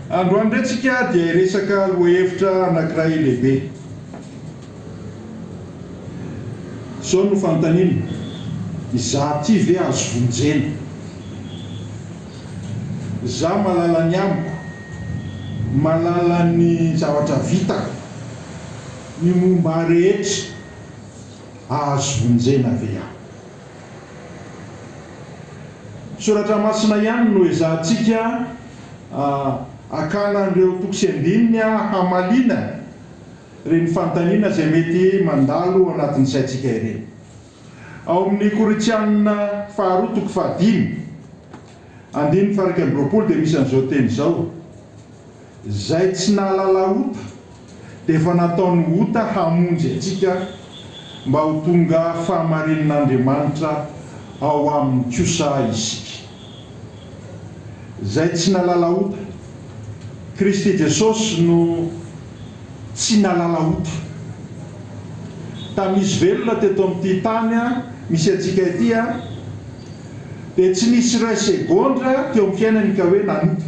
Androany indray tsika dia hiresaka lohahevitra anankiray lehibe. Izao no fanontaniana, izaho ity ve azo vonjena? Izaho mahalala ny amiko, mahalala ny zavatra vitako, ny momba ahy rehetra, azo vonjena ve aho? Soratra masina ihany no ezahantsika hakana an'ireo toko sy andininy hamaliana ireny fanontaniana izay mety mandalo ao anatin'ny saintsika ireny. Ao amin'ny Korintiana faharoa toko fahadimy, andininy faha iraika amby roapolo dia misy an'izao teny izao, Izay tsy nahalala ota dia efa nataony ota hamonjy antsika mba ho tonga fahamarinin'Andriamanitra ao aminy kosa isika. Izay tsy nahalala ota. Kristy Jesosy no tsy nahalala ota. Tamin'izy velona teto amin'ity tany misy antsika ity. Dia tsy nisy iray segondra teo amin'ny fiainany ka hoe nanota.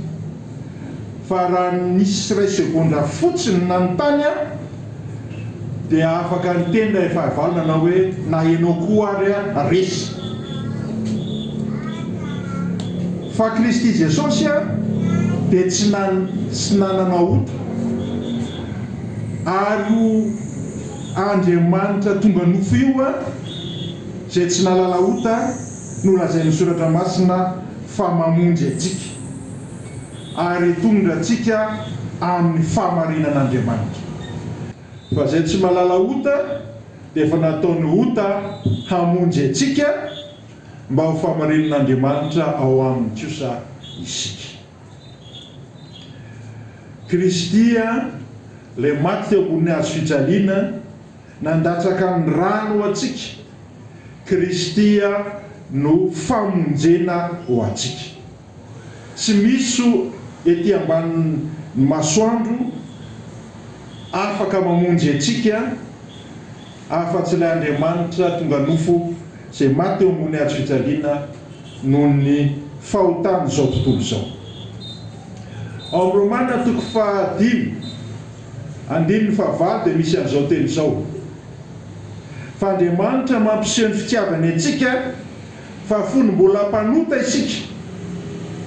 Fa raha nisy iray segondra fotsiny nanontany aho, dia afaka niteny ilay fahavalo nanao hoe, na ianao koa ary aho resy. Fa Kristy Jesosy aho dia tsy tsy nanana ota. Ary io Andriamanitra tonga nofo io aho. Izay tsy nahalala ota no lazain'ny Soratra Masina fa mamonjy antsika ary hitondra antsika amin'ny fahamarinan'Andriamanitra. Fa izay tsy mahalala ota dia efa nataony ota hamonjy antsika mba ho fahamarinan'Andriamanitra ao aminy kosa isika. Kristy, Ilay maty teo ambonin'ny hazo fijaliana, nandatsaka ny rany ho antsika. Kristy no famonjena ho antsika. Tsy misy ety ambanin'ny masoandro afaka mamonjy antsika afa-tsy ilay Andriamanitra tonga nofo izay maty teo ambony hazo fijaliana. noho ny fahotan'izao tontolo izao. Ao amin'ny Romana toko fahadimy andininy fahavalo dia misy an'izao teny izao, Fa Andriamanitra mampiseho ny fitiavany antsika fa fony mbola mpanota isika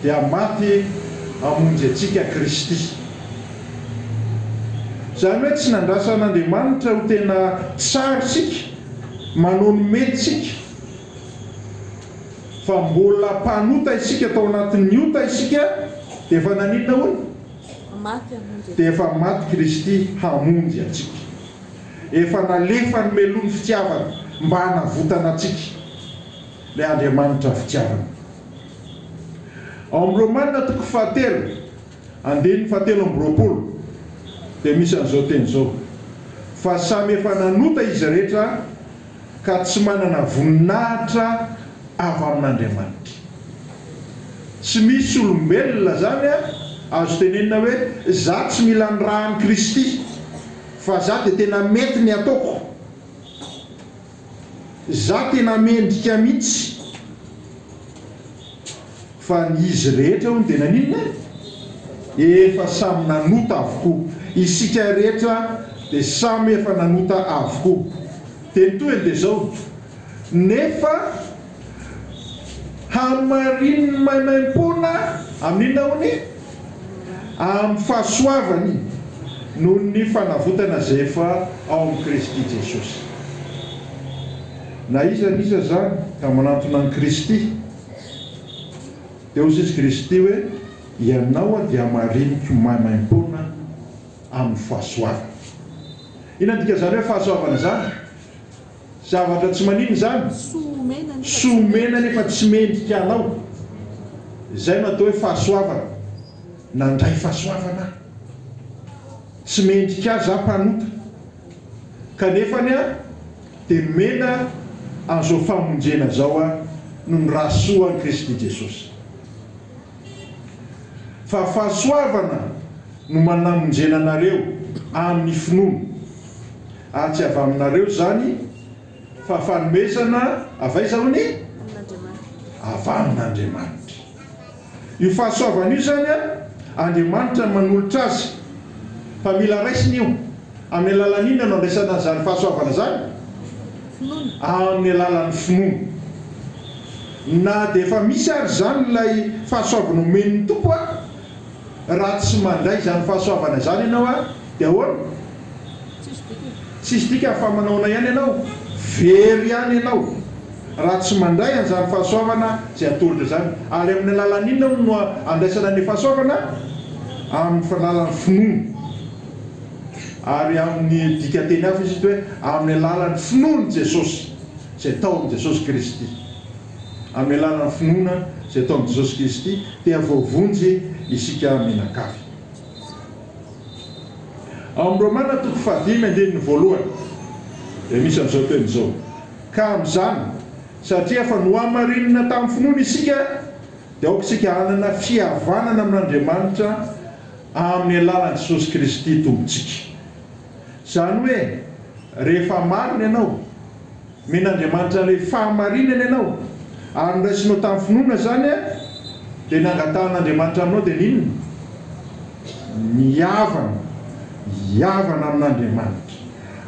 dia maty hamonjy antsika Kristy. Izany hoe tsy nandrasan'Andriamanitra ho tena tsara isika, manohy ny mety isika. fa mbola mpanota isika tao anatin'ny ota isika dia efa naninona hono? dia efa maty Kristy hamonjy antsika, efa nalefa ny meloan'ny fitiavana mba hanavotana antsika ilay Andriamanitra fitiavana. Ao amin'ny Romana toko fahatelo andininy fahatelo amby roapolo dia misy an'izao teny izao, fa samy efa nanota izy rehetra, ka tsy manana voninahitra avy amin'Andriamanitra. Tsy misy olombelona izany azo tenenina hoe za tsy mila ny ra an'i Kristy fa za dia tena mety ny ataoko, za tena mendrika mihitsy. Fa ry izy rehetra hono dia naninona e? Efa samy nanota avokoa. Isika rehetra dia samy efa nanota avokoa. Dia ny tohiny dia izao, nefa hamarinin'ny maimaimpoana amin'inona hono? Amin'ny fahasoavany noho ny fanavotana izay efa ao amin'i Kristy Jesosy. Na iza na iza izany ka manantona an'i Kristy. Dia hoy Jesosy Kristy hoe, Ianao aho dia hamariniko maimaimpoana amin'ny fahasoavana. Inona no dikan'izany hoe fahasoavana izany? Zavatra tsy maninona izany? Soa omena nefa tsy mendrika anao. Izay no atao hoe fahasoavana. Nandray fahasoavana aho. Tsy mendrika Ahy izaho mpanota. Kanefa anie aho. Dia nomena an'izao famonjena izao aho noho ny rahasoan'i Kristy Jesosy. Fa fahasoavana no manamonjena anareo amin'ny finoana, ary tsy avy aminareo izany, fa fanomezana avy aiza hono e? Avy amin'Andriamanitra. Io fahasoavana io zany Andriamanitra no manolotra azy fa mila raisina io, amin'ny alalan'ny inona no andraisana an'izany fahasoavana zany? Amin'ny alalan'ny finoana. Na dia efa misy ary zany ilay fahasoavana omen'ny Tompo Raha tsy mandray izany fahasoavana izany ianao ary dia ahoana? Tsisy dikany fa manaona ihany ianao, very ihany ianao raha tsy mandray an'izany fahasoavana izay atolotra izany. Ary amin'ny alalan'ny inona moa no andraisana ny fahasoavana? Amin'ny alalan'ny finoana. Ary amin'ny dikan-teny hafa izy eto hoe amin'ny alalan'ny finoan'i Jesosy, izay tao amin'i Jesosy Kristy. amin'ny alalan'ny finoana izay ataon'i Jesosy Kristy dia voavonjy isika mianakavy. Ao amin'ny Romana toko fahadimy andininy voalohany dia misy an'izao teny izao, Ka amin'izany, satria efa nohamarinina tamin'ny finoana isika, dia aoka isika hanana fihavanana amin'Andriamanitra amin'ny alalan'i Jesosy Kristy Tompontsika. Izany hoe, rehefa marina ianao, Mena Andriamanitra ilay fahamarinana ianao ary noraisinao tamin'ny finoana izany dia nangatahan'Andriamanitra aminao dia n'inona? Ny havana, hihavana amin'Andriamanitra.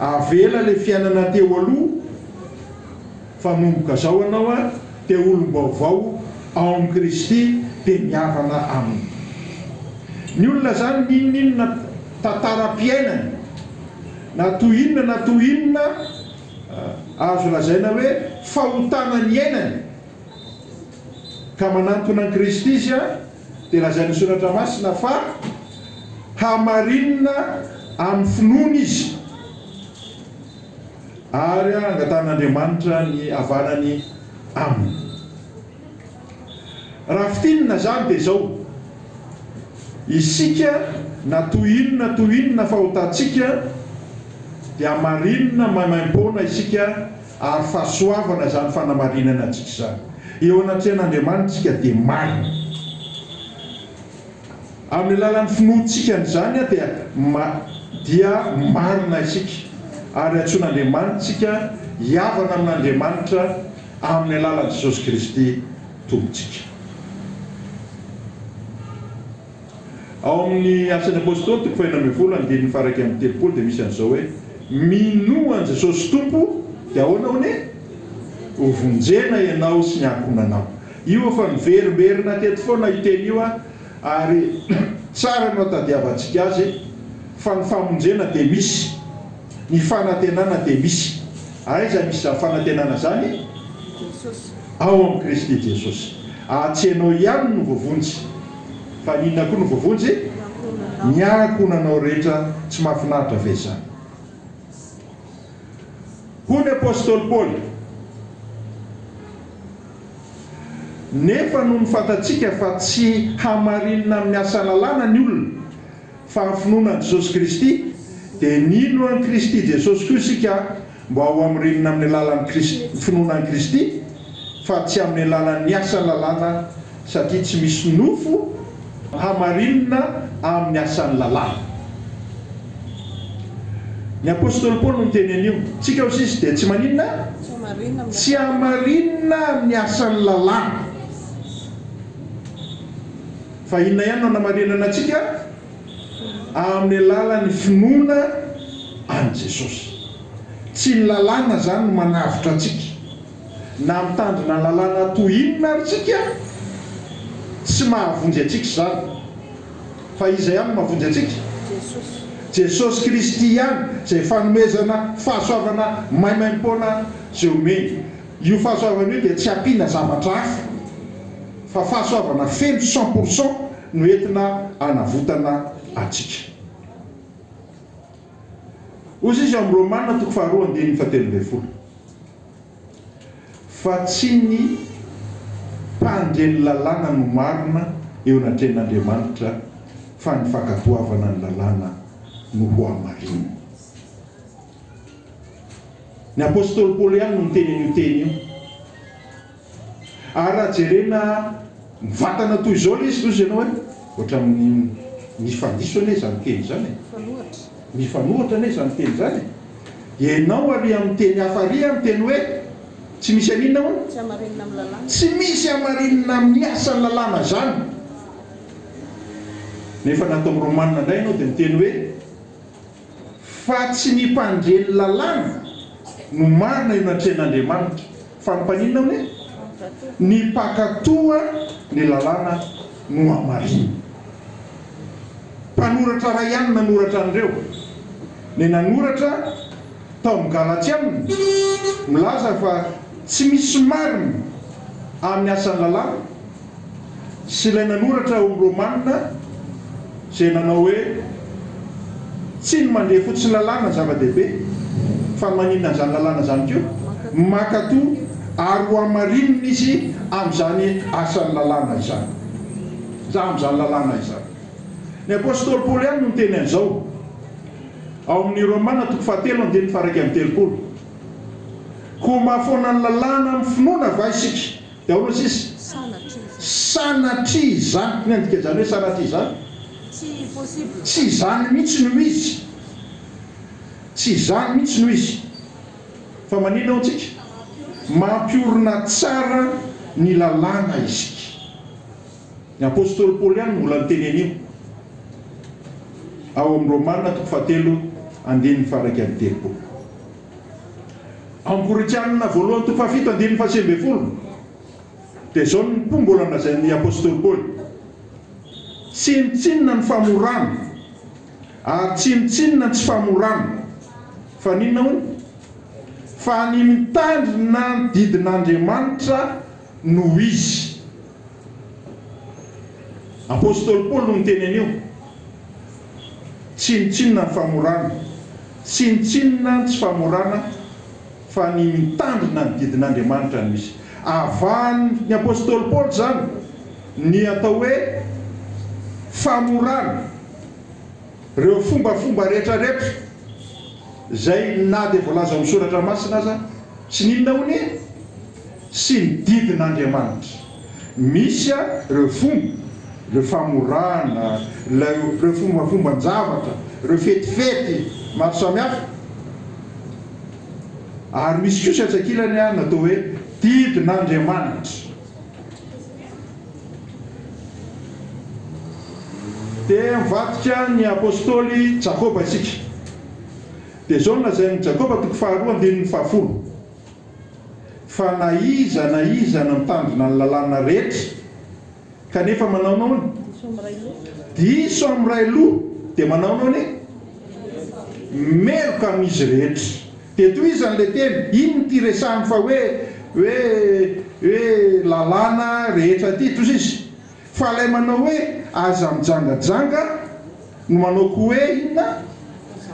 Avela ilay fiainana teo aloha fa nomboka izao ianao dia olom-baovao ao amin'i Kristy dia mihavana Aminy. Ny olona izany n'inon'inona tantara-piainany na toy inona na toy inona, azo lazaina hoe fahotana ny iainany, ka manantona an'i Kristy izy, dia lazain'ny Soratra Masina fa hamarinina amin'ny finoana izy, ary angatahan'Andriamanitra ny havanany aminy. Raha fintinina izany dia izao, isika na toy inona toy inona fahotantsika dia hamarinina maimaimpoana isika ary fahasoavana izany fanamarinana antsika izany. Eo anatrehan'Andriamanitra isika dia marina. Amin'ny alalan'ny finoantsika an'izany dia dia marina isika ary antsoin'Andriamanitra isika hihavana amin'Andriamanitra amin'ny alalan'i Jesosy Kristy Tompontsika. Ao amin'ny Asan'ny Apôstôly toko fahenina ambin'ny folo andininy faha-iraika amby telopolo dia misy an'izao hoe, Minoa an'i Jesosy Tompo dia ahoana hono e? Hovonjena ianao sy ny ankohonanao. Io efa niverimberina teto foana io teny io ary tsara no atadiavantsika azy fa ny famonjena dia misy, ny fanantenana dia misy. Aiza misy izany fanantenana izany? Ao amin'i Kristy Jesosy. Ary tsy ianao ihany no voavonjy fa ny inona koa no voavonjy? Ny ankohonanao rehetra. Tsy mahafinaritra ve izany? Hoy ny apostoly Paoly. Nefa nony fantatsika fa tsy hamarinina amin'ny asa lalàna ny olona, fa amin'ny finoana an'i Jesosy Kristy, dia nino an'i Kristy Jesosy koa isika mba ho hamirinina amin'ny alalan'ny Kristy, finoana an'i Kristy, fa tsy amin'ny alalan'ny asa lalàna, satria tsy misy nofo Hamarinina amin'ny asan'ny lalàna. Ny apostoly Paoly no niteny an'io. Tsika kosa izy dia tsy maninona? Tsy hamarinina amin'ny asan'ny lalàna. Fa inona ihany no hanamarinana antsika? Amin'ny alalan'ny finoana an'i Jesosy. Tsy ny lalàna izany no manavotra antsika. Na mitandrina lalàna toy inona ary tsika, tsy mahavonjy antsika izany. Fa iza ihany no mahavonjy antsika? Jesosy Kristy ihany, izay fanomezana, fahasoavana maimaimpoana izay omeny. Io fahasoavana io dia tsy ampiana zavatra hafa, fa fahasoavana feno cent pour cent no entina hanavotana antsika. Hoy Jesoa amin'ny Romana toko faharoa andininy fahatelo ambin'ny folo fa tsy ny mpandre ny lalàna no marina eo anatrehan'Andriamanitra fa ny fankatoavana ny lalàna no hohamarinina. Ny apostoly Paoly ihany no niteny an'io teny io. Ary raha jerena mivantana toy izao ilay izy hozy ianao hoe ohatran'ny mifadiso anie izany teny izany e! mifanohitra anie izany teny izany e! dia ianao ary amin'ny teny hafa ary a miteny hoe tsy misy an'inona hono? tsy misy hamarinina amin'ny asan'ny lalàna izany nefa nataon'i Romana indray ianao dia miteny hoe Fa tsy ny mpandre ny lalàna no marina eo anatrehan'Andriamanitra, fa ny mpaninona moa? Ny mpankatò ny lalàna no hamarina. Mpanoratra iray ihany nanoratra an'ireo, ny nanoratra tao amin'ny Galatiana, milaza fa tsy misy marina amin'ny asan'ny lalàna, Sy ilay nanoratra ho Romanina izay nanao hoe, Tsy ny mandre fotsiny lalàna no zava-dehibe, fa maninona an'izany lalàna izany koa? Mankatò ary hohamarinina izy amin'izany asan'ny lalàna izany, na amin'izany lalàna izany. Ny apostoly Paoly ihany no niteny an'izao, ao amin'ny Romana toko fahatelo andininy faha iraika amby telopolo, Koa mahafoana ny lalàna amin'ny finoana va isika? Daholo tsisy sanatria izany. Inona no dikan'izany hoe sanatria izany? Tsy izany mihitsy no izy. Tsy izany mihitsy no izy. Fa maninona hoy antsika? Mampiorina tsara ny lalàna isika. Ny apostoly Paoly ihany no mbola niteny an'io, ao amin'ny Romana toko fahatelo andininy faha iraika amby telopolo. Angorikanina voalohany toko fahafito andininy fahasivy ambin'ny folo dia izao ny po mbola nolazain'ny apostoly Paoly, Tsinontsinona ny famorana, ary tsinontsinona ny tsy famorana, fa n'inona hono? fa ny mitandrina ny didin'Andriamanitra no izy. Apostoly Paoly no niteny an'io. Tsinontsinona ny famorana. Tsinontsinona ny tsy famorana fa ny mitandrina ny didin'Andriamanitra no misy. Avahan'ny apostoly Paoly izany ny atao hoe famorana, ireo fombafomba rehetrarehetra izay na dia voalaza ao amin'ny soratra masina aza. Tsy nino na honia. sy ny didin'Andriamanitra. Misy ary ireo fomba, ireo famorana, ilay ireo fombafomban-javatra, ireo fetifety maro samihafa. Ary misy kosa etsy ankilany an, atao hoe didin'Andriamanitra. Dia mivadika ny apostoly Jakoba isika. Dia izao no lazain'i Jakoba, toko faharoa, andininy fahafolo. fa na iza na iza no mitandrina ny lalàna rehetra kanefa manao noana, diso amin'ny iray loha, dia manao noana e! meloka amin'izy rehetra. Dia tohizany ilay teny, inona ity resahany fa hoe hoe hoe lalàna rehetra ity? Tohizo izy. Fa ilay manao hoe aza mijangajanga no manao ko hoe inona?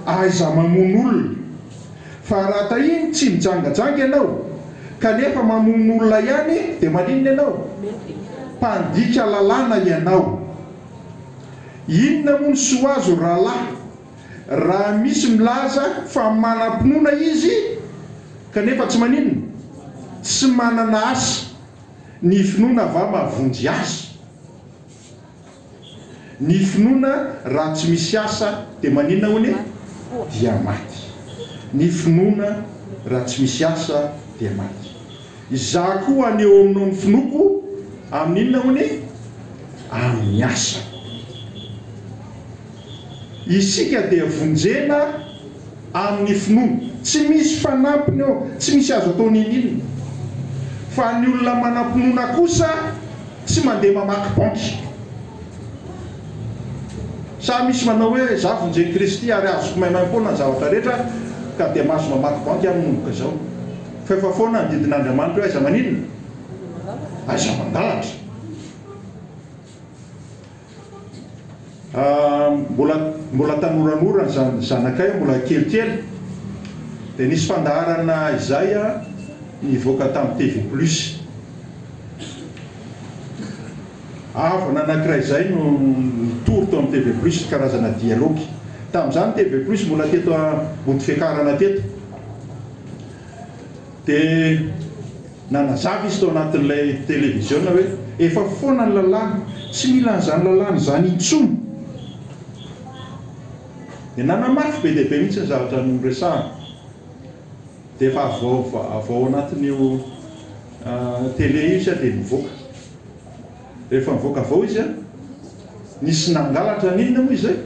Aiza mamono olona? Fa raha tahiany tsy mijangajanga ianao kanefa mamono olona ihany dia maninona ianao? Mpandika lalàna ianao. Inona moa ny soa azo rahalahy raha misy milaza fa manam-pinoana izy kanefa tsy maninona? Tsy manana asa. Ny finoana va mahavonjy azy? Ny finoana raha tsy misy asa dia manina hono e? Dia maty. Ny finoana raha tsy misy asa dia maty. Izaho koa haneho aminao ny finoako amin'ny inona hono e? Amin'ny asa. Isika dia vonjena Amin'ny finoana. Tsy misy fanampiny eo, tsy misy azo atao n'inon'inona. Fa ny olona manam-pinoana kosa tsy mandeha mamaky banky. Sa misy manao hoe, izaho vonjy an'i Kristy ary azoko maimaimpoana ny zavatra rehetra ka dia mahazo mamaky banky aho manomboka izao. Fa efa foana ny didin'Andriamanitra hoe aiza maninona? Aiza mangalatra? Mbola tanoranora ny zanakay, mbola kelikely, dia nisy fandaharana izay nivoaka tamin'ny TV plus. Havana anankiray izay no nitory tao amin'ny TV plus, karazana dialogue. Tamin'izany TV plus mbola teto Ambodifiakarana teto. Dia nanazava izy tao anatin'ilay televiziona hoe, Efa foana ny lalàna, tsy mila an'izany lalàna izany intsony. Dia nanamafy be dia be mihitsy ny zavatra noresahana. Dia efa avy ao, avy ao anatin'io tele io izy dia nivoaka. Rehefa nivoaka avao izy an! Nisy nangalatra an! Inona moa izay?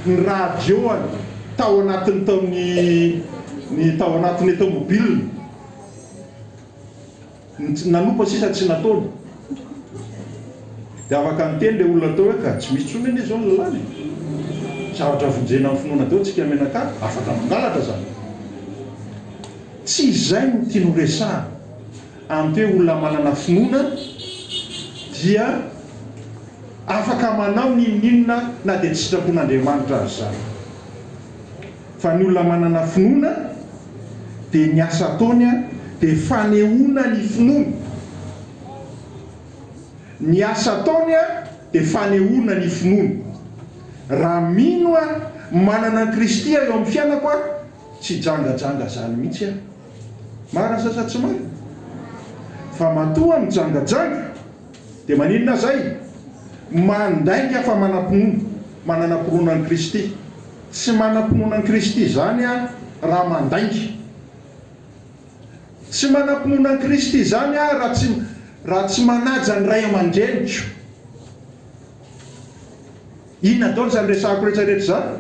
Ny radio an! Tao anatiny tao ny ny tao anatiny ny tomobiliny. Ny nanopa sisa tsy nataony. Dia afaka niteny ilay olona tao hoe ka tsy misy intsony anie izao ny lalàna e! Zavatra vonjena amin'ny finoana daholo tsika menaka, afaka mangalatra izany. Tsy izay no tiany horesahana. Amin'ny hoe olona manana finoana dia afaka manao n'inon'inona na dia tsy sitrapon'Andriamanitra aza izany. Fa ny olona manana finoana dia ny asa ataony dia fanehoana ny finoany. Ny asa ataony dia fanehoana ny finoany. Raha mino aho, manana an'i Kristy eo amin'ny fiainako aho, tsy jangajanga izany mihitsy aho. Marina sa tsy marina? Fa matoa mijangajanga dia maninona zay? Mandainga fa manam-pinoana, manana mpinoana an'i Kristy. Tsy manam-pinoana an'i Kristy zany aho raha mandainga. Tsy manam-pinoana an'i Kristy zany aho raha tsy raha tsy manaja ny ray aman-dreniko. Inona daholo izany resahiko rehetra rehetra izany?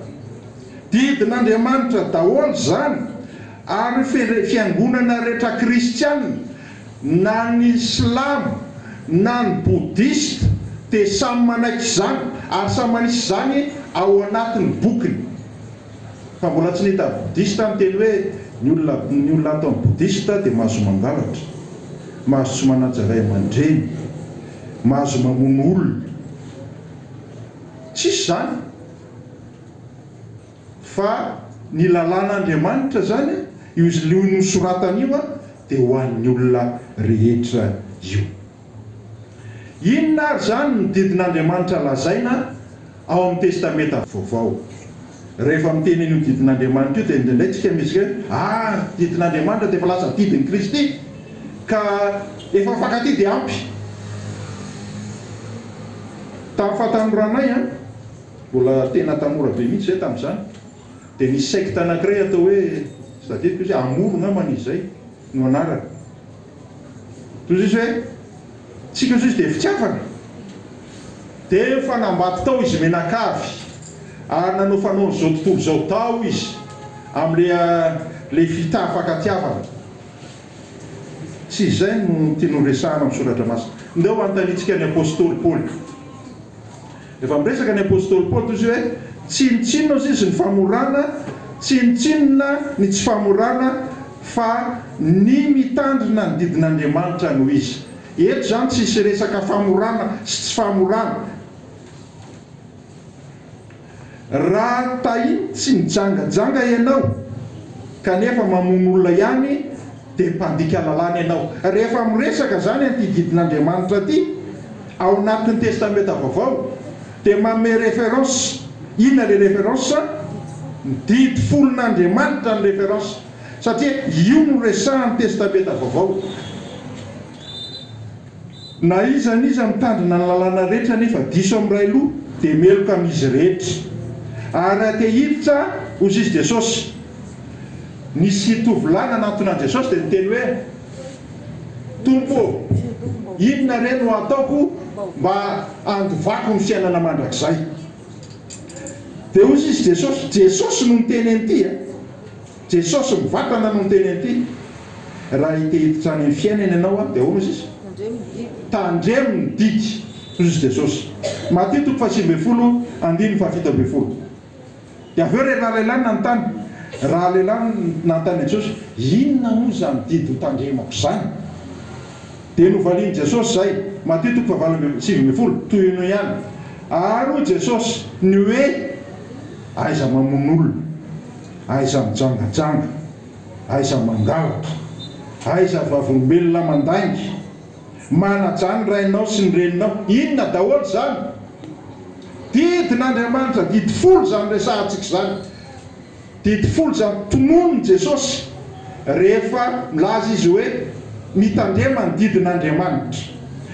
Didin'Andriamanitra daholo izany ary fendrey fiangonana rehetra kristiana na ny silamo na ny bodista dia samy manaiky izany ary samy manisy izany ao anatin'ny bokiny fa mbola tsy nita bodista aho niteny hoe ny olona ny olona ato amin'ny bodista dia mahazo mangalatra mahazo tsy manaja ray aman-dreny mahazo mamono olona Tsisy izany, fa ny lalàn'Andriamanitra izany, io izlio nosoratany io dia ho an'ny olona rehetra io. Inona ary izany ny didin'Andriamanitra lazaina ao amin'ny Testamenta Vaovao? Rehefa miteny an'io didin'Andriamanitra io dia indraindray isika misy hoe ary didin'Andriamanitra dia efa lasa didin'i Kristy ka efa mifankatia dia ampy. Tamin'ny fahatanoranay an, mbola tena tanora be mihitsy izay tamin'izany, dia nisy sekta anankiray atao hoe, tsy tadidiko izy hoe Amour ngambany izy izay no anarany. Toy izay hoe, tsika Jiosy dia fitiavana. Dia efa nambato tao izy mianakavy, ary nanao fanaon'izao tontolo izao tao izy, amin'ilay ilay fitaha fankatiavana. Tsy izay no tiany horesahana amin'ny Soratra Masina. Ndeha ho anontanintsika ny apostoly Paoly. Efa miresaka ny apostoly Paoly toy izay hoe, Tsinontsinona hozy izy ny famorana, tsinontsinona ny tsy famorana, fa ny mitandrina ny didin'Andriamanitra no izy. Eto izany tsisy resaka famorana sy tsy famorana. Raha tahin tsy mijangajanga ianao kanefa mamono olona ihany dia mpandika lalàna ianao. Rehefa miresaka izany an'ity didin'Andriamanitra ity ao anatin'ny testamenta vaovao dia manome référence, inona le référence? ny didy folon'Andriamanitra ny référence satria io no resahan'ny testamenta vaovao. Na iza n'iza mitandrina ny lalàna rehetra nefa diso amin'ny iray loha dia meloka amin'izy rehetra. Ary raha te hiditra, hozy izy Jesosy. Nisy tovolahy nanantona an'i Jesosy dia niteny hoe, Tompo ô, inona re no hataoko mba handovako ny fiainana mandrakizay? Dia hozy izy Jesosy, Jesosy no niteny an'ity a! Jesosy mivatana no niteny an'ity. Raha hite hiditra any amin'ny fiainany ianao dia ahoana hozy izy? Tandremo ny didy, hozy Jesosy. Matio toko fahasivy ambin'ny folo andininy fahafito ambin'ny folo. Dia avy eo ilay rahalehilahy nanontany, rahalehilahy nanontany an'i Jesosy, inona moa izany didy ho tandremako izany? Dia novalian'i Jesosy izay, Matio toko fahavalo ambin'ny sivy ambin'ny folo, tohino ihany. Ary hoy Jesosy, ny hoe, aiza mamono olona. Aiza mijangajanga, aiza mangalatra, aiza vavolombelona mandainga, manajà ny rainao sy ny reninao, inona daholo izany? Didin'Andriamanitra, didy folo izany resahantsika izany, didy folo izany tononin'i Jesosy rehefa milaza Izy hoe mitandrema ny didin'Andriamanitra.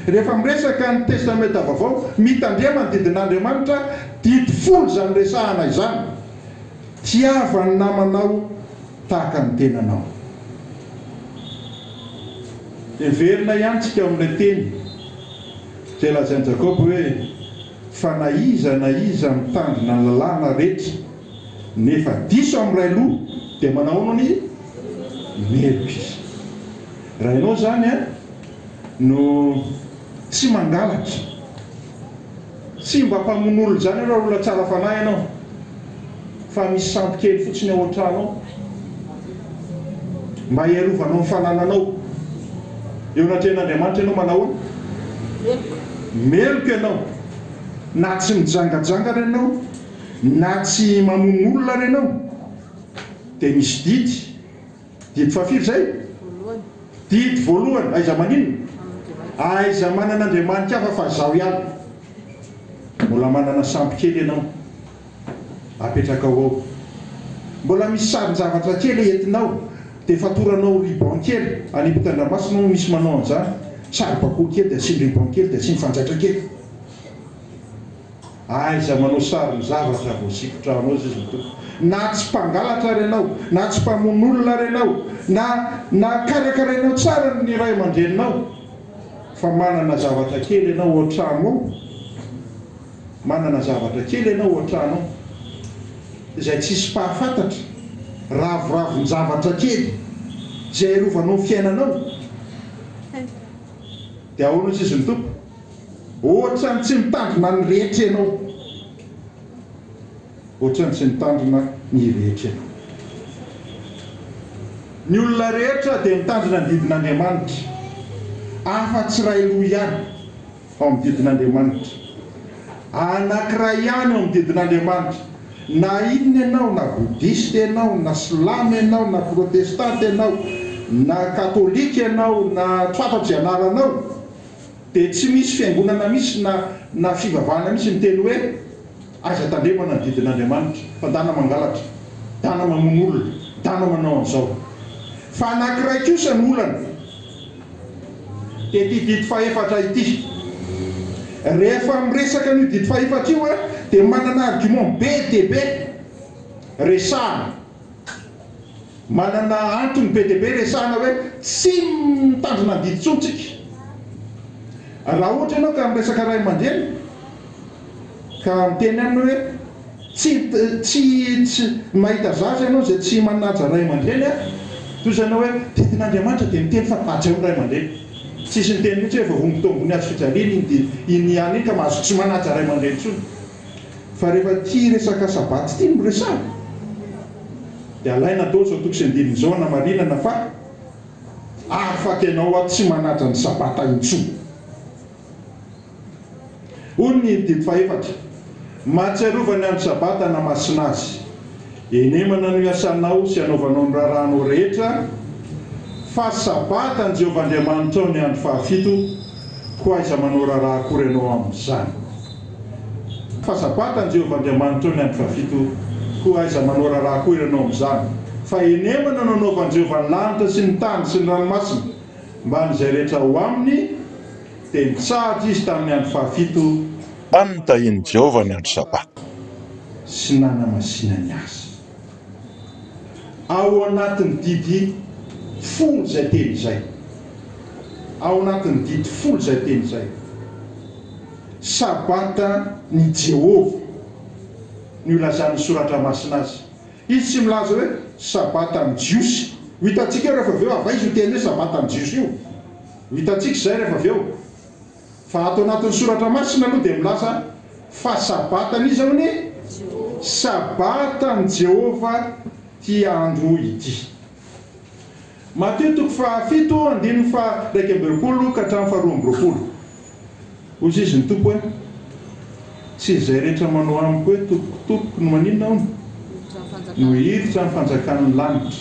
Rehefa miresaka ny Testamenta Vaovao, mitandrema ny didin'Andriamanitra, didy folo izany resahana izany. Tiava ny namanao tahaka ny tenanao. Heverina ihany tsika ao amin'ilay teny izay lazain'i Jakoba hoe, Fa na iza na iza mitandrina ny lalàna rehetra nefa diso amin'ny iray loha dia manahoana ny meloka izy. Raha ianao izany no tsy mangalatra. Tsy mba mpamonolonjany io raolona tsara fanahy ianao fa misy sampy kely fotsiny ao antrano ao mba hiarovanao ny fanananao eo anatrehan'Andriamanitra ianao manahoana? Meloka ianao na tsy mijangajanga ary ianao na tsy mamono olona ary ianao dia misy didy Didy fahafiry izay? Didy voalohany, aiza maninona? Aiza manana andriamaniky hafa fa zaho ihany? Mbola manana sambo kely ianao, apetrakao ao. Mbola misy sarin-javatra kely entinao, dia fatoranao ruban kely, any ampitan-dranomasina hono misy manao an'izany, saribakoly kely dia asiany ruban kely dia asiany fanjaitra kely. Aiza manao sarin'ny zavatra vao sikotranao izy ny Tompo. Na tsy mpangalatra ary ianao, na tsy mpamono olona ary ianao, na na karakarainao tsara ny ray aman-dreninao, fa manana zavatra kely ianao ao an-trano ao, manana zavatra kely ianao ao an-trano ao, izay tsisy mpahafantatra, raviravin-javatra kely izay arovanao ny fiainanao, dia ahoana hoy izy ny Tompo? Ohatrany tsy mitandrina ny rehetra ianao Ohatrany tsy mitandrina ny rehetra ianao Ny olona rehetra dia mitandrina ny didin'Andriamanitra afa tsy iray loha ihany ao amin'ny didin'Andriamanitra Anankiray ihany ao amin'ny didin'Andriamanitra Na inona ianao na Bodista ianao na Silamo ianao na Protestanta ianao na Katolika ianao na tsy fantatro izay anaranao dia tsy misy fiangonana misy na na fivavahana misy miteny hoe aiza tandremana ny didin'Andriamanitra fa dana mangalatra, dana mamono olona, dana manao an'izao. Fa anankiray kosa no olana dia ity didy fahefatra ity. Rehefa miresaka an'io didy fahefatra io dia manana argument be dia be resahana. Manana antony be dia be resahana hoe tsy mitandrina ny didy intsony tsika. Raha ohatra ianao ka miresaka ray aman-dreny ka miteny aminy hoe tsy tsy tsy mahita zaza ianao izay tsy manaja ray aman-dreny a! toy izany hoe didin'Andriamanitra dia miteny fa hajaina ny ray aman-dreny. Tsisy niteny mihitsy hoe voahombontombony hazo fijaliana iny didy iny ihany iny ka mahazo tsy manaja ray aman-dreny intsony. fa rehefa tia resaka sabbath ity no resahina dia alaina daholo izao toko sy andininy izao hanamarinana fa afaky ianao aho tsy manaja ny sabata intsony. Hoy ny didy fahefatra, Mahatsiarova ny andro sabata namasina azy. Henemana no iasanao sy anaovanao ny raharahanao rehetra, fa sabata an'i Jehovah Andriamanitrao ny andro fahafito, koa aiza manao raharaha akory ianao amin'izany. Fa sabata an'i Jehovah Andriamanitrao ny andro fahafito, koa aiza manao raharaha koa ianao amin'izany? Fa henemana no anaovan'i Jehovah ny lanitra sy ny tany sy ny ranomasina, mba an'izay rehetra ao aminy, dia nitsahatra izy tamin'ny andro fahafito, Tany nitahian'i Jehovah ny andro sabata, sy nanamasinany azy. ao anatin'ny didy folo izay teny izay, ao anatin'ny didy folo izay teny izay, Sabatan'i Jehovah no ilazan'ny Soratra Masina azy. Izy tsy milaza hoe Sabatan'ny Jiosy. Ho hitantsika eo rehefa avy eo, avy aiza io teny hoe Sabatan'ny Jiosy io? Ho hitantsika izay rehefa avy eo. Fa ato anatin'ny soratra masina aloha dia milaza fa Sabatan'iza hono e? Sabatan'i Jehovah ity andro ity. Matio toko fahafito andininy faha-iraika amby roapolo ka hatramin'ny faharoa amby roapolo. Hoy izy ny Tompo hoe. Tsy izay rehetra manao amiko hoe Tompoko, Tompoko no maninona hono? no hiditra ny fanjakan'ny lanitra,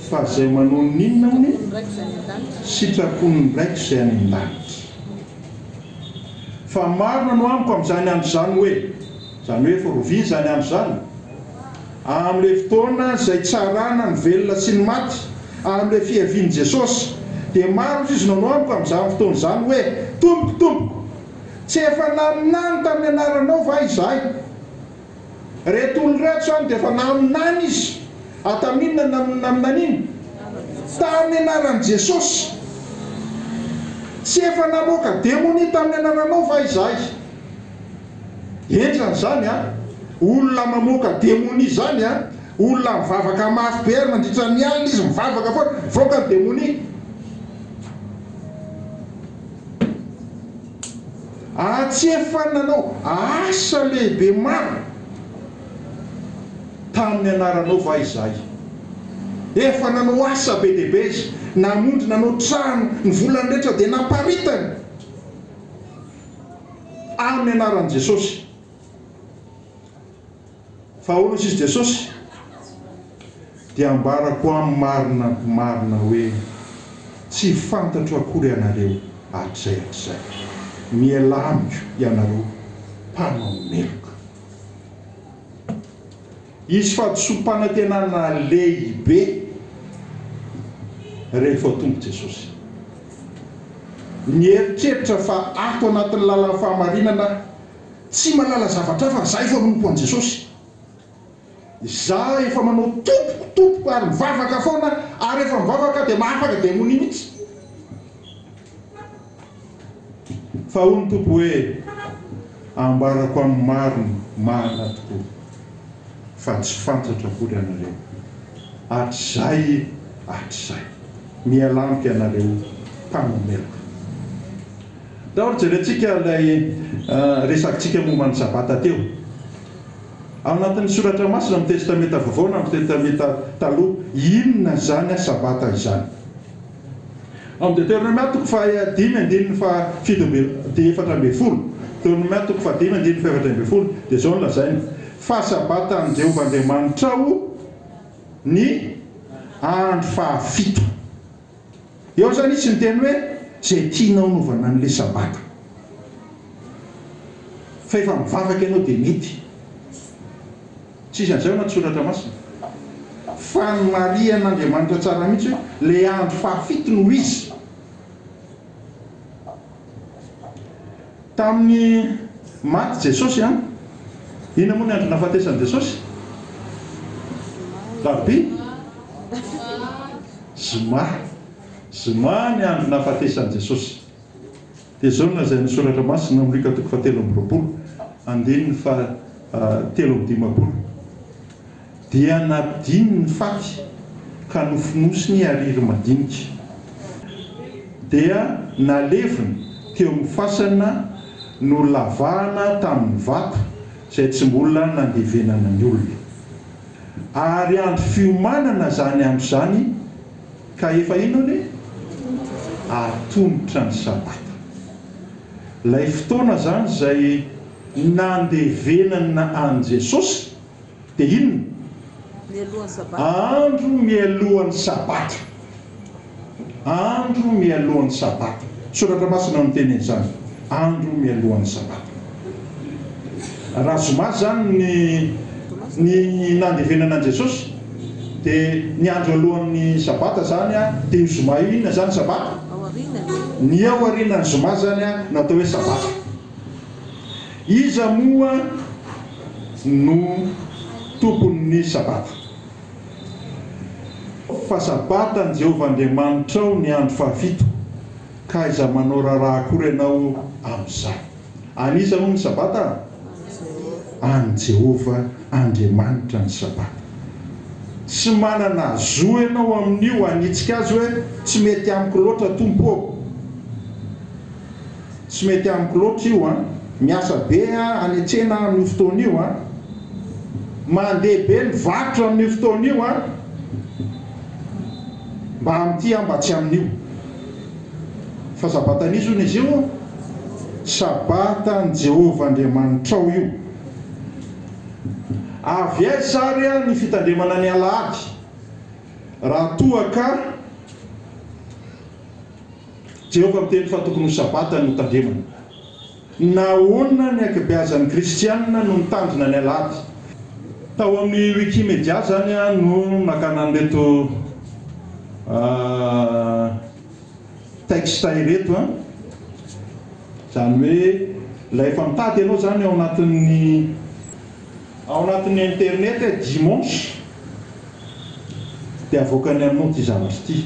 fa izay manao ny inona hono? sitrapon'ny Raiko izay any an-danitra. Fa maro nanao amiko amin'izany andro izany hoe, izany hoe firoviana izany andro izany, amin'ilay fotoana izay itsarana ny velona sy ny maty, amin'ilay fiavian'i Jesosy, dia maro izy nanao amiko amin'izany fotoana izany hoe, Tompoko, Tompoko! Tsy efa naminany tamin'ny anaranao va izahay? Ireto olona ireto izany dia efa naminany izy. Ary tamin'inona no naminaniany? Tamin'ny anaran'i Jesosy. Tsy efa namoaka demonia tamin'ny anaranao va izahay? Henjana izany an! Olona mamoaka demonia izany an! Olona mivavaka mafy be ary mandritra ny alina izy mivavaka foana, mivoaka ny demonia. Antsef fa nanao asa lehibe maro tamin'ny anaranao va izahay? Efa nanao asa be dia be izy, namonjy, nanao trano, ny volany rehetra dia naparitany amin'ny anaran'i Jesosy. Fahaolo siz Jesosy dia ambarako am marina marina hoe tsy fantatro akory anareo hatrizay hatrizay. Mialà amiko ianareo mpanao meloka. Hisy fahadisoam-panantenana lehibe rehefa ho tonga Jesosy. Mieritreritra fa ato anatin'ny lalan'ny fahamarinana aho. Tsy mahalala zavatra hafa zay fa manompo an'i Jesosy. Za efa manao tompoko tompoko ary mivavaka foana ary refa mivavaka de mahafaka demonia mitsy. Fa hoy ny Tompo hoe ambarako amin'ny marina marina tokoa fa tsy fantatro akory anareo hatrizay hatrizay. Miala amiko ianareo mpanameloka. Daholo jerentsika ilay resakintsika momba ny Sabata teo. Ao anatin'ny soratra masina amin'ny Testamenta Vaovao na amin'ny Testamenta Taloha, inona izany Sabata izany? Ao amin'ny Deteronomia toko faha dimy andininy faha fito ambin'ny efatra ambin'ny folo, Deteronomia toko faha dimy andininy faha efatra ambin'ny folo, dia izao no lazainy, Fa Sabata an'i Jehovah Andriamanitrao ny andro fahafito. Eo izany izy niteny hoe, Izay tianao anovana an'ilay Sabata. Fa efa mivavaka ianao dia mety. Tsy isan'izay ao anaty Soratra Masina. Fa nomarihan'Andriamanitra tsara mihitsy hoe ilay andro fahafito no ho izy. Tamin'ny maty Jesosy an! Inona moa ny andro nahafatesan'i Jesosy? Rabi? Zoma. Zoma ny andro nahafatesan'i Jesosy. Dia izao ny lazain'ny Soratra Masina amin'ny Luka toko fahatelo amby roapolo, andininy faha telo amby dimampolo. Dia nampidininy ny faty ka nofonosiny ariry madinika. Dia naleviny teo amin'ny fasana nolavahana tamin'ny vato izay tsy mbola nandevenana ny olona. Ary andro fiomanana izany andro izany ka efa inona anie? Atomotra ny Sabata. Ilay fotoana izany izay nandevenana an'i Jesosy. dia inona? Andro mialohan'ny Sabata. Andro mialohan'ny Sabata. Ny Soratra Masina no miteny an'izany. Andro mialohan'ny Sabata. Raha Zoma izany ny ny nandevenana an'i Jesosy, dia ny andro alohan'ny Sabata izany dia io Zoma io inona izany Sabata? Ny ao aorianan'ny Zoma izany no atao hoe Sabata. Iza moa no tompon'ny Sabata. Fa Sabatan'i Jehovah Andriamanitrao ny andro fahafito, ka aiza manao raharaha akory ianao amin'izany. An'iza moa ny Sabata? An'i Jehovah Andriamanitra ny Sabata. Tsy manana zo ianao amin'io hanitsika azy hoe, Tsy mety amiko loatra, Tompo ô! Tsy mety amiko loatra io an! Miasa be aho hanetsena aho amin'io fotoana io an! Mandeha be ny varotra amin'io fotoana io an! Mba amin'ity aho mba tsy amin'io! Fa Sabatan'iza hono izy io? Sabatan'i Jehovah Andriamanitrao io! Avy aiza àry ny fitandremana ny alahady raha toa ka. Jehovah miteny fa tokony ho Sabata ny hotandremana. Nahoana ny ankabeazan'ny Kristianina no mitandrina ny Alahady? Tao amin'ny Wikimedia izany no nakana an'ireto textes ireto, izany hoe rehefa mitady ianao izany ao anatin'ny ao anatin'ny internet hoe dimanche dia avoakany aminao ity zavatra ity.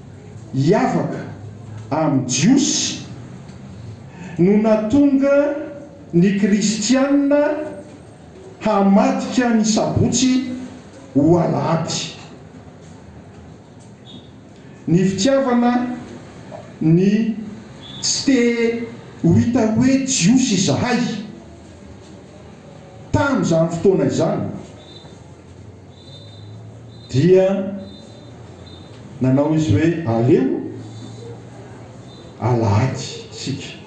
hiavaka amin'ny Jiosy no nahatonga ny Kristianina hamadika ny Sabotsy ho Alahady. Ny fitiavana ny tsy te ho hita hoe Jiosy izahay tamin'izany fotoana izany. dia nanao izy hoe, Aleo alahady isika.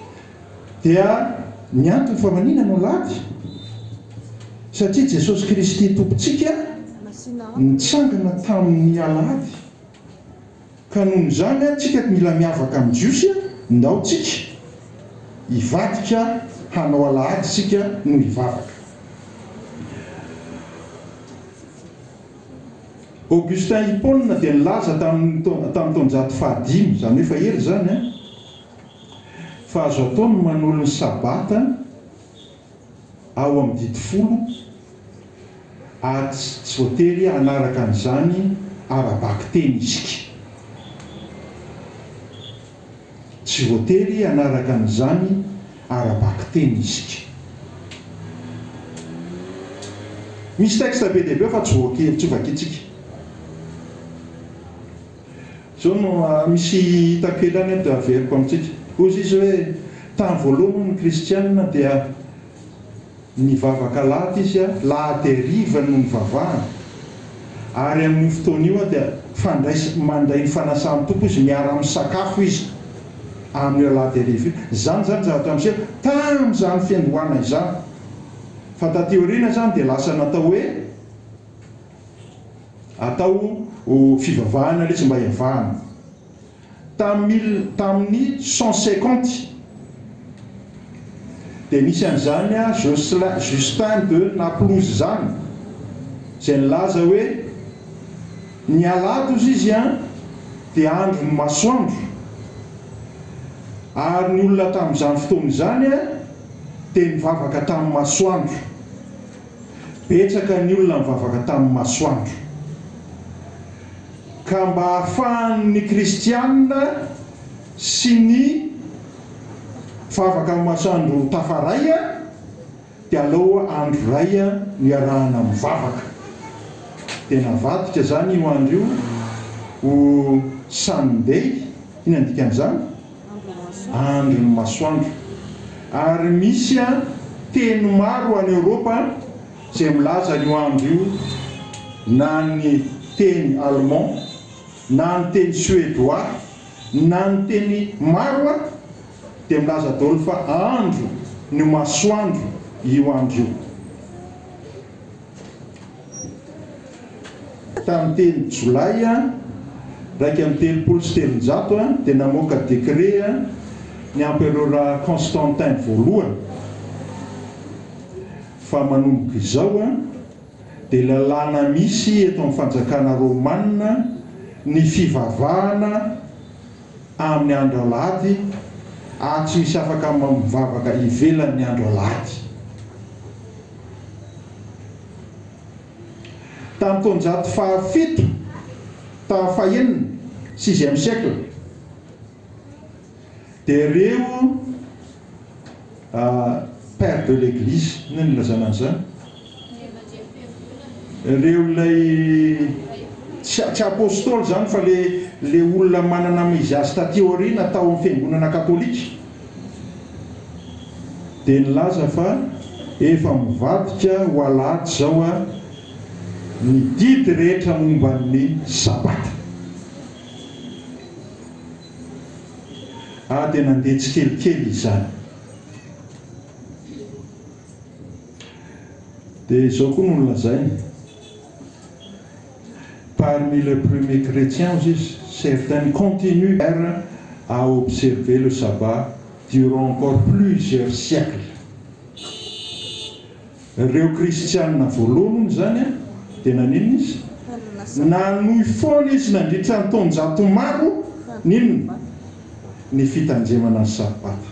Dia ny antony fa manina no alahady? Satria Jesosy Kristy Tompontsika nitsangana tamin'ny alahady Ka noho izany an tsika mila miavaka amin'ny Jiosy an, ndao tsika hivadika hanao alahady isika no hivavaka. Augustin Hippone dia nilaza tamin'ny tamin'ny taonjato fahadimy, izany hoe efa ela izany an, fa azo atao ny manolo ny Sabata an, ao amin'ny didy folo ary tsy voatery hanaraka an'izany ara-bakiteny isika. Tsy voatery hanaraka an'izany ara-bakiteny isika. Misy texte be dia be ao fa tsy voakely, tsy vakintsika. Izao no misy hita an-kilany eto dia averiko amintsika. Hoy Izy hoe, Tamin'ny voalohany hono ny kristiana dia nivavaka lahady izy a, lahady hariva no nivavahany. Ary amin'io fotoana io a dia fandrais, mandray ny fanasan'ny Tompo izy, miara-misakafo izy amin'io alahady hariva io. Izany izany zavatra miseho tamin'izany fiandohana izany. Fa taty aoriana izany dia lasa natao hoe. atao ho fivavahana lesy mba hiavahana. Tamin'ny mil tamin'ny cent cinquante dia nisy an'izany Jocelin Justin de Naplouse izany izay nilaza hoe ny alahady hozy izy an dia andron'ny masoandro ary ny olona tamin'izany fotoana izany dia nivavaka tamin'ny masoandro. Betsaka ny olona nivavaka tamin'ny masoandro. Ka mba hahafahan'ny kristiana sy ny vavaka amin'ny masoandro tafaray dia aleo andro iray no iarahana mivavaka. Dia navadika izany io andro io ho Sunday, inona ny dikan'izany? andron'ny masoandro, ary misy teny maro any Eoropa izay milaza an'io andro io, na ny teny Allemand, na ny teny Suedoà, na ny teny maro dia milaza daholo fa andro ny masoandro io andro io. Tamin'ny telo Jolay iraika amby telopolo sy telonjato dia namoaka dekret ny Emperora Constantin voalohany fa manomboka izao dia lalàna misy eto amin'ny fanjakana Romana ny fivavahana amin'ny andro alahady ary tsy misy afaka mivavaka ivelan'ny andro alahady. Tamin'ny taonjato fahafito taha fahenina, sixième siècle, dia ireo père de l'église, inona no ilazana an'izany? ireo ilay tsy tsy apôstôly izany fa ilay ilay olona manana izy azy taty aoriana tao amin'ny fiangonana katôlika. dia nilaza fa efa mivadika ho alahady izao ny didy rehetra momba ny sabata. Aho dia nandeha tsikelikely izany. Dia izao koa no nolazainy. Parmi les premiers chrétiens juifs, certains continuèrent à observer le sabbat durant encore plusieurs siècles. Ireo kristiana voalohany hono izany dia naninona izy? Nanohy foana izy nandritra ny taonjato maro ny inona? Ny fitanjemana ny sabata.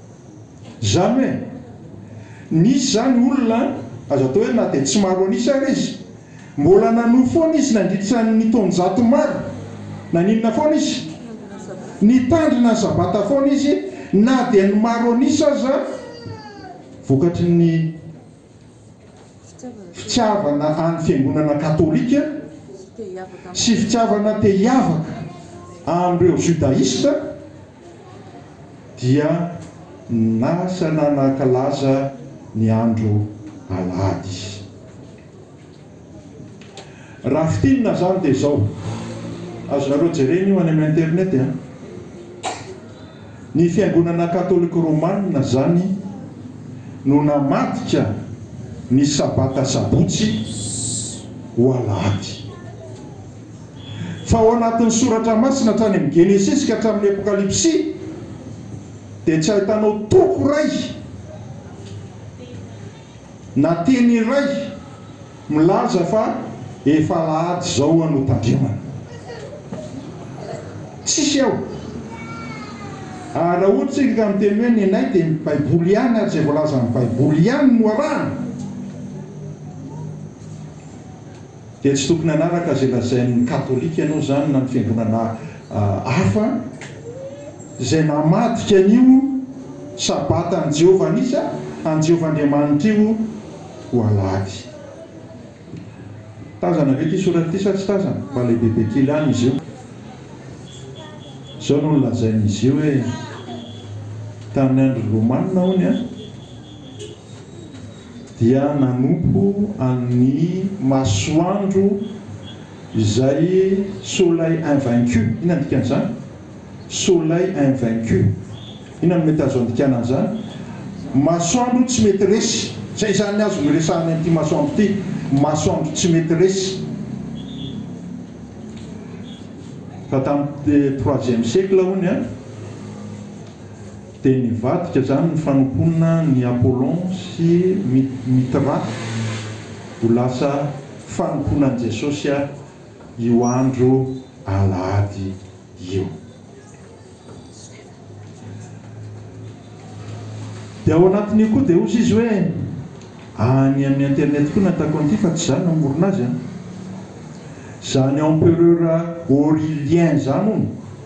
Zany hoe misy zany olona aza atao hoe na dia tsy maro an'isa ary izy, mbola nanohy foana izy nandritra ny taonjato maro, naninona foana izy? Nitandrina ny sabata foana izy na dia ny maro an'isa aza vokatry ny fitiavana an'ny fiangonana katolika sy fitiavana te hiavaka amin'ireo judaista, dia nasana nankalaza ny andro alahady izy. Raha fintinina izany dia izao, azonareo jerena io any amin'ny internet an. Ny fiangonana katolika romanina izany no namadika ny sabata sabotsy ho alahady. Fa ao anatin'ny Soratra Masina hatrany amin'ny Genesisy ka hatramin'ny Apokalypsy dia tsy ahitanao toko iray na teny iray milaza fa efa alahady izao aho no tandremana. Tsisy ao. Ary raha ohatra isika ka miteny hoe nenay dia ny Baiboly ihany ary izay voalazan'ny Baiboly ihany no arahana. Dia tsy tokony hanaraka izay lazain'ny katolika ianao izany na ny fiangonana hafa izay namadika an'io Sabata an'i Jehovah an'isa, an'i Jehovah Andriamanitra io ho Alahady. Tazana ve ity soratra ity sa tsy tazana? Mba lehibebe kely any izy io. Izao no nolazain'izy io hoe, Tamin'ny andron'ny Romanina, hono, dia nanompo an'i Masoandro izay Soleil invaincu, inona ny dikan'izany? Soleil invaincu, inona no mety azo andikana an'izany? Masoandro tsy mety resy, izay izany azo niresahany an'ity Masoandro ity, Masoandro tsy mety resy. Fa tamin'ny troisième siècle hono an! Dia nivadika izany ny fanompoana ny Apollon sy Mithra ho lasa fanompoana an'i Jesosy io andro alahady io. Dia ao anatin'io koa dia hozy izy hoe, any amin'ny internet koa nataoko an'ity fa tsy izaho namorona azy an! Izany empereur Aurelien izany hono!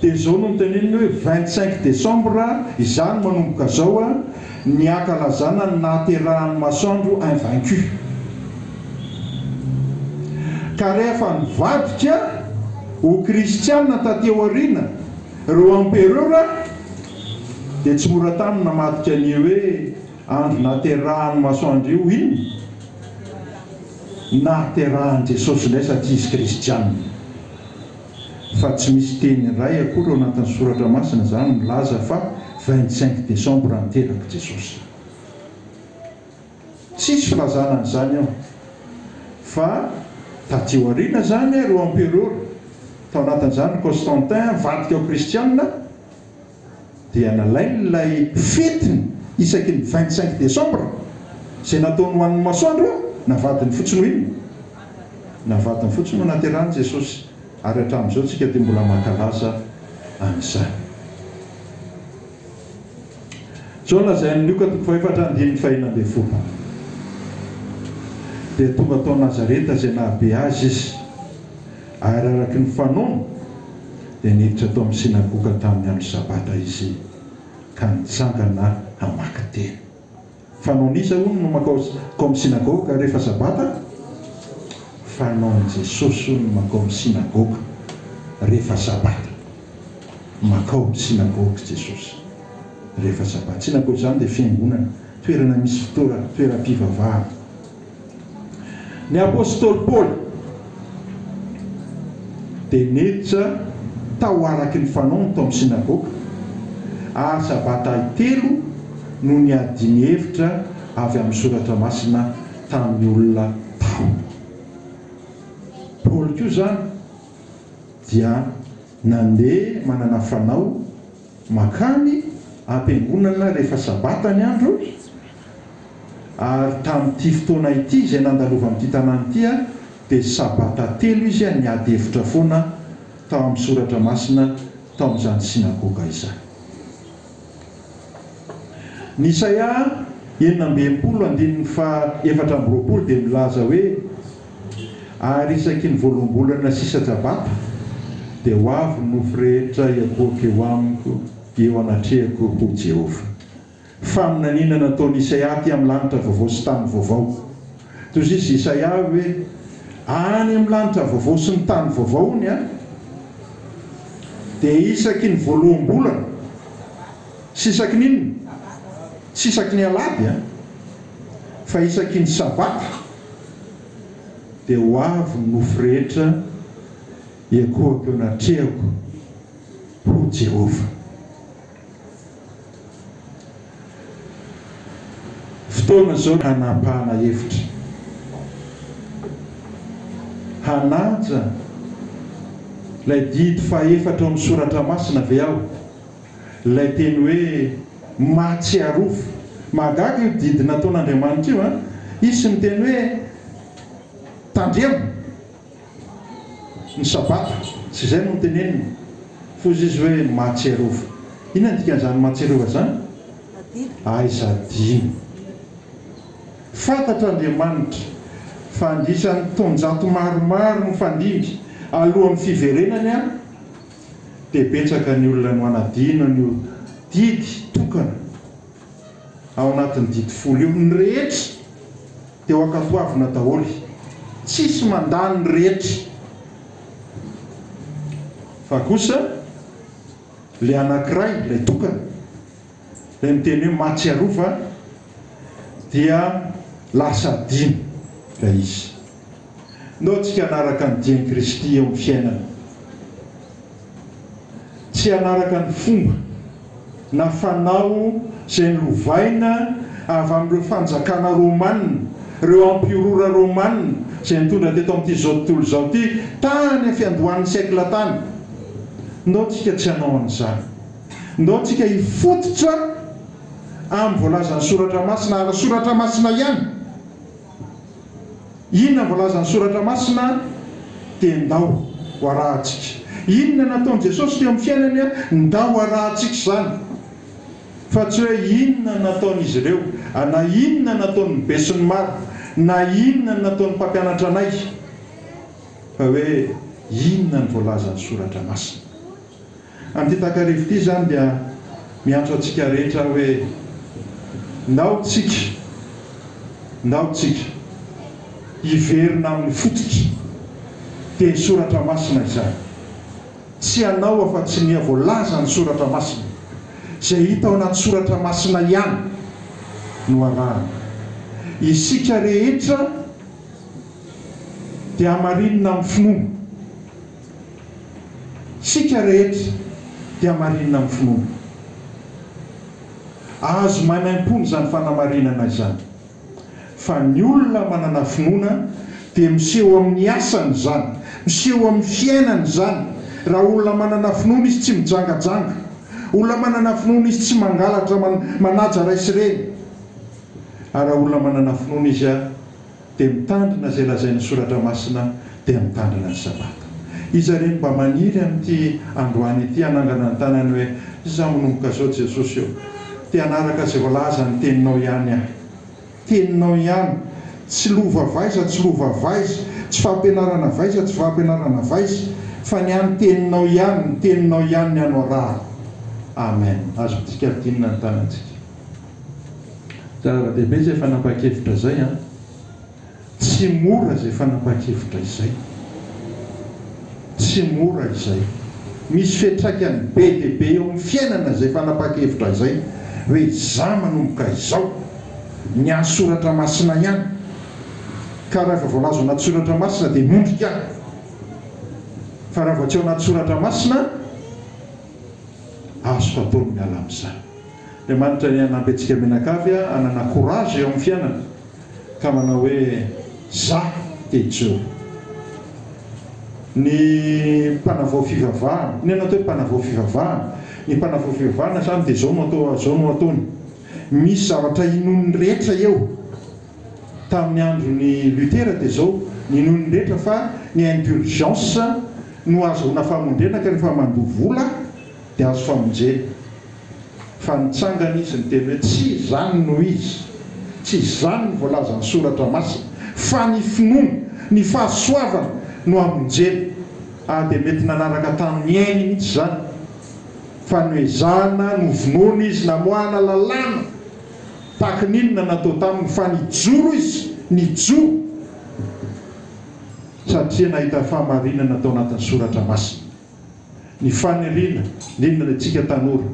Dia izao no niteneniny hoe, vingt cinq décembre, izany manomboka izao, ny hankalazana ny nahaterahan'ny masoandro invaincu. Ka rehefa nivadika ho kristiana taty aoriana ireo empereur dia tsy mora taminy namadika an'io hoe andro nahaterahan'ny masoandro io inona? Nahaterahan'i Jesosy indray satria izy kristiana. fa tsy misy teny iray akory ao anatin'ny soratra masina izany milaza fa vingt cinq décembre ny terak'i Jesosy. Tsisy filazana an'izany ao. Fa taty aoriana izany ireo emperora, tao anatin'izany Constantin, nivadika ho kristianina, dia nalainy ilay fetiny isaky ny vingt cinq décembre izay nataony ho an'ny masoandro na vadiny fotsiny ho inona na vadiny fotsiny no naterahany Jesosy ary hatramin'izao tsika dia mbola mankalaza an'izany. Izao no lazain'i Lioka toko fahefatra andininy fahena ambin'ny folo Dia tonga tao Nazareta izay nahabe azy izy. Ary araka ny fanaony, dia niditra tao amin'ny synagoga tamin'ny andro Sabata Izy, ka nitsangana hamaky teny. Fanaon'iza, hono, no mankao ao amin'ny synagoga rehefa Sabata? Fanaon'i Jesosy, hono, ny mankao amin'ny synagoga rehefa Sabata. Mankao amin'ny synagoga Jesosy rehefa Sabata. Synagoga izany dia fiangonana, toerana misy fitoeram-pivavahana. Ny apostoly Paoly dia niditra tao araka ny fanaony tao amin'ny synagoga, ary sabatahy telo no niadiany hevitra avy amin'ny Soratra Masina tamin'ny olona tao. Paoly koa izany dia nandeha manana fanao mankany am-piangonana rehefa sabata ny andro, Ary tamin'ity fotoana ity izay nandalovan'ity tanàna ity aho, dia sabata telo izy aho niady hevitra foana tao amin'ny soratra masina tao amin'izany synagoga izany. Ny Isaia enina amby enimpolo andininy faha efatra amby roapolo dia milaza hoe, Ary isaky ny voaloham-bolana sisa tsabata, dia ho avy ny nofy rehetra hiakohoka eo amiko, eo anatrehako, hoy Jehovah. Faminaniana nataon'i Isaia aty amin'ny lanitra vaovao sy tany vaovao. Toy izay izy Isaia hoe, Any amin'ny lanitra vaovao sy ny tany vaovao ny ahy, dia isaky ny voaloham-bolana, tsy isaky ny inona? tsy isaky ny alahady an! fa isaky ny sabata, dia ho avy ny nofo rehetra hiankohako eo anatrehako, hoy Jehovah. Fotoana izao hanapahana hevitra, hanaja ilay didy fahefatra ao amin'ny soratra masina ve aho, ilay teny hoe mahatsiarofo. Mahagaga io didy nataon'Andriamanitra io an! Hisy miteny hoe tandremo. Ny Sabata, tsy izay no noteneniny. Foza izy hoe mahatsiarova. Inona ny dikan'izany mahatsiarova izany? Aiza adino. Fantatr' Andriamanitra fa andisan'ny taonjato maromaro nifandimby alohan'ny fiverenany aho, dia betsaka ny olona no hanadino an'io didy tokana. ao anatin'ny didy folo io. Ny rehetra dia ho ankapoavina daholo. Tsisy mandà ny rehetra. Fa kosa ilay anankiray, ilay tokana, ilay miteny hoe mahatsiarova dia lasa adino ilay izy. Nao tsika hanaraka ny dian'i Kristy eo amin'ny fiainana, tsy hanaraka ny fomba na fanao izay nolovaina avy amin'ireo fanjakana romanina, ireo empiorora romanina izay nitondra teto amin'ity izao tontolo izao ity tany amin'ny fiandohan'ny siècle tany. Nao tsika tsy hanao an'izany. Nao tsika hifototra amin'ny voalazan'ny Soratra Masina ara-soratra masina ihany. Inona voalazan'ny Soratra Masina? dia Ndao ho arahantsika. Inona nataon'i Jesosy teo amin'ny fiainany? Ndao ho arahantsika izany. Fa tsy hoe inona nataon'izy ireo, na inona nataon'ny besinimaro, na inona nataon'ny mpampianatra anay, fa hoe inona ny voalazan'ny Soratra Masina. Amin'ity takariva ity izany dia miantso antsika rehetra hoe, ndao tsika, ndao tsika hiverina amin'ny fototry teny soratra masina izany. Tsy hanao afa-tsy ny voalazan'ny soratra masina. Izay hita ao anaty soratra masina ihany no arahana. Isika rehetra dia hamarinina amin'ny finoana. Isika rehetra dia marinina amin'ny finoana. Azo maimaimpoana izany fanamarinana izany, fa ny olona manana finoana dia miseho amin'ny asany izany, miseho amin'ny fiainany izany. Raha olona manana finoana izy tsy mijangajanga, olona manana finoana izy tsy mangalatra manaja ray sy reny, ary raha olona manana finoana izy. dia mitandrina izay lazain'ny soratra masina dia mitandrina ny sabata. Iza re no mba maniry amin'ity androany ity hanangana ny tanany hoe izaho manomboka izao Jesosy ô, te hanaraka izay voalaza ny teninao ihany aho. Teninao ihany. Tsy lova vaiza tsy lova vaiza, tsy fampianarana vaiza tsy fampianarana vaiza, fa ny ahy ny teninao ihany, ny teninao ihany ny anorahako. Amen. Azo midika adinina ny tanantsika. Zava-dehibe izay fanapahan-kevitra izay an! Tsy mora izay fanapahan-kevitra izay. Tsy mora izay. Misy fiantraikany be dia be eo amin'ny fiainana izay fanapahan-kevitra izay. Hoe izaho manomboka izao, miahy soratra masina ihany. Ka raha efa voalaza ao anaty soratra masina dia mondrika aho. Fa raha vao tsy ao anaty soratra masina, azoko atao ny miala amin'izany. Andriamanitra ny hanampy antsika mianakavy hanana courage eo amin'ny fiainana ka manao hoe za te hijoro. Ny mpanavao fivavahana, inona no atao hoe mpanavao fivavahana? Ny mpanavao fivavahana zany dia zao no atao zao no ataony, misy zavatra inoan'ny rehetra eo, tamin'ny andron'i Luther dia zao ny inoan'ny rehetra fa ny indulgence no ahazoana famondrena ka rehefa mandoa vola, Dia azo famonjena. Fa nitsangana izy niteny hoe, Tsy izany no izy. Tsy izany no voalazan'ny Soratra Masina. Fa ny finoana, ny fahasoavana no amonjena. Ary dia mety nanaraka tamin'ny ainy mihitsy izany. Fa noezahana, novonoina izy, namoahana lalàna. Tahaky ny inona natao taminy. Fa nijoro izy, nijoro. Satria nahita fahamarinana tao anatin'ny Soratra Masina. Ny faniriana indrindra ny antsika tanora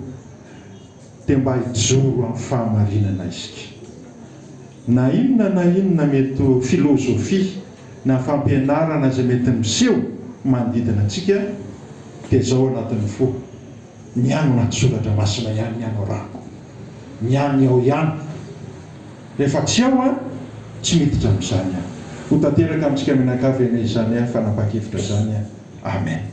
dia mba hijoro amin'ny fahamarinana isika. Na inona na inona mety ho filôzôfia na fampianarana izay mety miseho manodidina antsika dia zao ao anatin'ny fo, Ny an'ny anaty soratra masina ihany ny anorako, ny an'ny ao ihany. Rehefa tsy ao aho, tsy miditra amin'izany aho. Ho tanteraka amintsika mianakavy anie izany fanampan-kevitra izany. Amen.